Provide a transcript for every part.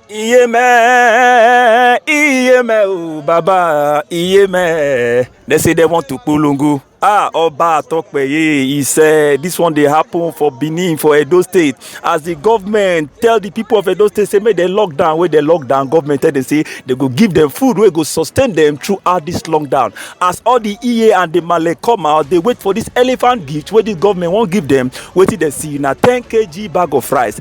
iye mẹ iye mẹ o baba iye mẹ they say they want to polongo ah oba atokpeye he said this one dey happen for benin for edo state as the government tell the people of edo state say make dem lock down wey dem lock down government tell dem say dem go give dem food wey go sustain dem throughout this lockdown as all the eye and the male come out dey wait for this elephant gift wey the government wan give dem wetin dem see na ten kg bag of rice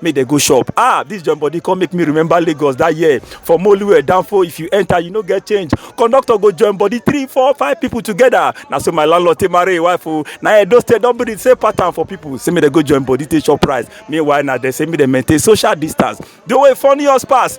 make dem go shop ah this joint body come make me remember lagos that year for moluwe danfo if you enter you no get change conductor go join body three four five people together na so my landlord take marry him wife o na edo state don be the same pattern for people say make dem go join body take shop price meanwhile na dem say make dem maintain social distance the way funny us pass